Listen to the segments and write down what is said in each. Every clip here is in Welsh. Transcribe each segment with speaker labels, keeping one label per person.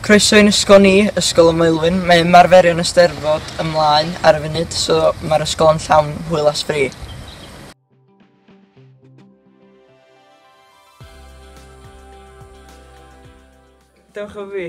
Speaker 1: Croeso i'n ysgol ni, Ysgol y Maelwyn. Mae ymarferion y Steddfod ymlaen ar y funud, so mae'r ysgol yn llawn hwyl a sbri. Dewch o fi.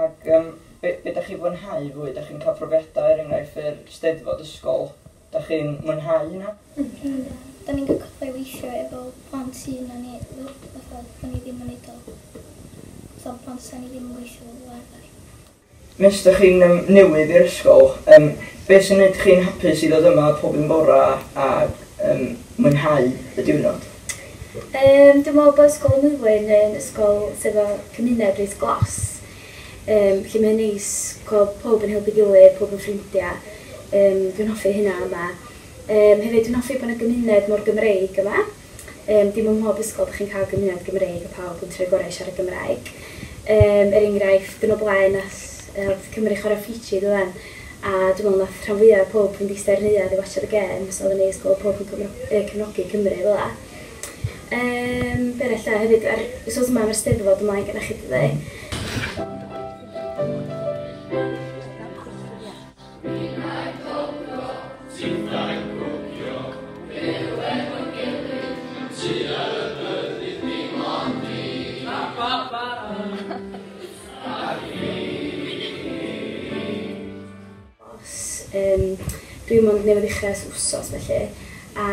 Speaker 2: Ac
Speaker 1: yym, be, be dach chi'n fwynhau fwy? Dach chi'n cael profiadau, er enghraifft, yr Steddfod ysgol? Dach chi'n mwynhau hynna? Yndw. Da ni'n
Speaker 2: cael cyfle i weithio efo plant sydd na ni, fatha, da ni ddim yn neud o, fatha plant da ni ddim yn gweithio efo fel arfer. Nes
Speaker 1: dach chi'n yym newydd i'r ysgol, yym, be sy'n neud chi'n hapus i ddod yma pob un bora a yym mwynhau y diwrnod? Yym
Speaker 3: dwi'n me'wl bo' Ysgol y Mwydwyn yn ysgol sy 'fo cymuned reit glos yym lle mae o'n neis gwel' powb yn helpu gilydd powb yn ffrindia yym dwi'n hoffi hynna yma. Yym hefyd dwi'n hoffi bo' 'na gymuned mor Gymreig yma yym dim ym mhob ysgol 'dych chi'n ca'l gymuned Gymreig a pawb yn trio'u gorau i siarad Gymraeg. Yym er enghraifft yn o blaen nath yy nath Cymry chwara Fiji do'ddan? A dwi'n meddwl wnaeth rhan fwya pobl yn ddistaw i'r neuadd i watsiad y gêms, oedd yn neis gweld pobl yn cymro- yy cefnogi Cymru fel 'na. Yym be' arall 'de hefyd yr wsos yma ma'r Steddfod ymlaen gyda chi dydi? Yym, dwi mond newydd ddechrau ers wsos felly, a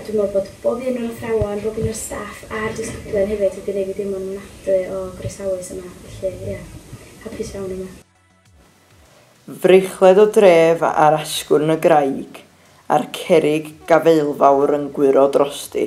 Speaker 3: dwi'n meddwl bod bob un o'r athrawon, bob un o'r staff a'r disgyblion hefyd wedi gwneud fi deimlo'n ofnadwy o groesawus yma, felly ie, hapus iawn yma. Frechled
Speaker 1: o dref ar asgwrn y graig, a'r cerrig gafaelfawr yn gwyro drosti.